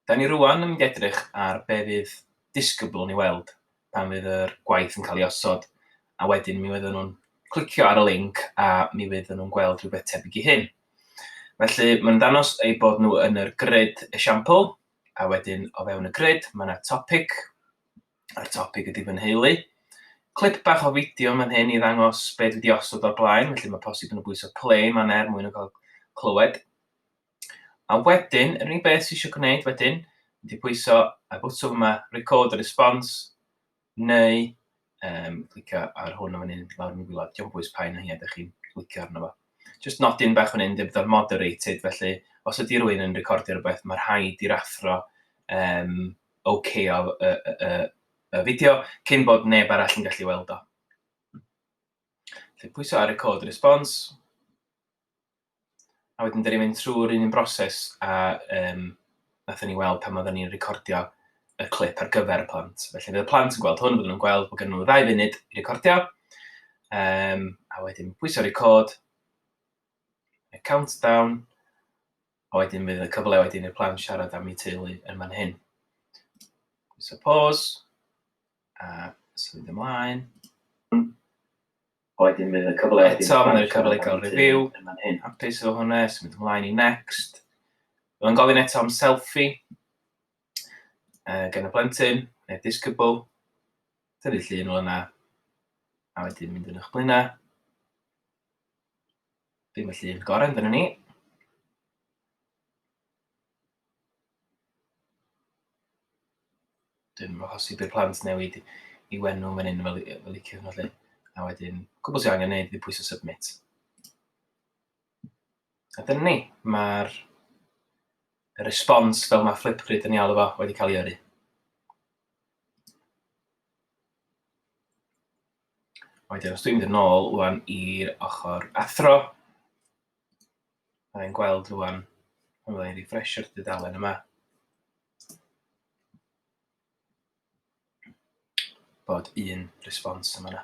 Dan ni rŵan yn mynd i edrych ar be fydd disgybl yn ei weld pan fydd yr gwaith yn cael ei osod a wedyn mi oedden nhw'n clicio ar y link a mi fydd nhw'n gweld rhywbeth tebyg i hyn. Felly mae'n ddanos eu bod nhw yn yr grid esiampl a wedyn o fewn y grid mae yna topic a'r topic ydy fy nheulu. Clip bach o fideo mae'n hyn i ddangos beth wedi osod o'r blaen, felly mae posib yn y bwys o play mae'n er mwyn yn cael clywed. A wedyn, yr unig beth sy isio gwneud wedyn ydy pwyso y botwm yma, record a response, neu um, clicio ar hwn o'n un lawr yn y gwylod. Diolch bwys pa un o hi ydych chi'n clicio arno fo. Just nodyn bach o'n un, dwi fel moderated, felly os ydy rhywun yn recordio rhywbeth, mae rhaid i'r athro um, OK o y, y, y, y fideo cyn bod neb arall yn gallu weld o. Felly pwyso ar record response. a wedyn dyn ni'n mynd trwy'r un un broses a um, nathon ni weld pan oedden ni'n recordio y clip ar gyfer y plant. Felly fydd y plant yn gweld hwn, byddwn nhw'n gweld bod gen nhw ddau funud i recordio, um, a wedyn pwysio record, y countdown, a wedyn bydd y cyfle wedyn i'r plant siarad am eu teulu yn fan hyn. Pwysio pause, a symud ymlaen. Eto mae'n rhoi'r cyfle i gael review, hapus efo hwnna, symud ymlaen i next. Mae'n gofyn eto am selfie gan y blentyn, neu disgybl. Tynnu llun o yna, a wedyn mynd yn eich blaenau. Dim y llun gorau, dyna ni. Dim achos i bydd plant newid i wenu fan hyn fel fel liciwch nhw 'lly. A wedyn, cwbl sy angen neud yw pwyso submit. A dyna ni, mae'r y response fel mae Flipgrid yn ei alw fo wedi cael ei yrru. Wedyn os dwi'n mynd yn ôl ŵan i'r ochr athro, A i'n gweld rwan, pan fydda i'n refresho'r dudalen yma, bod un response yma yna.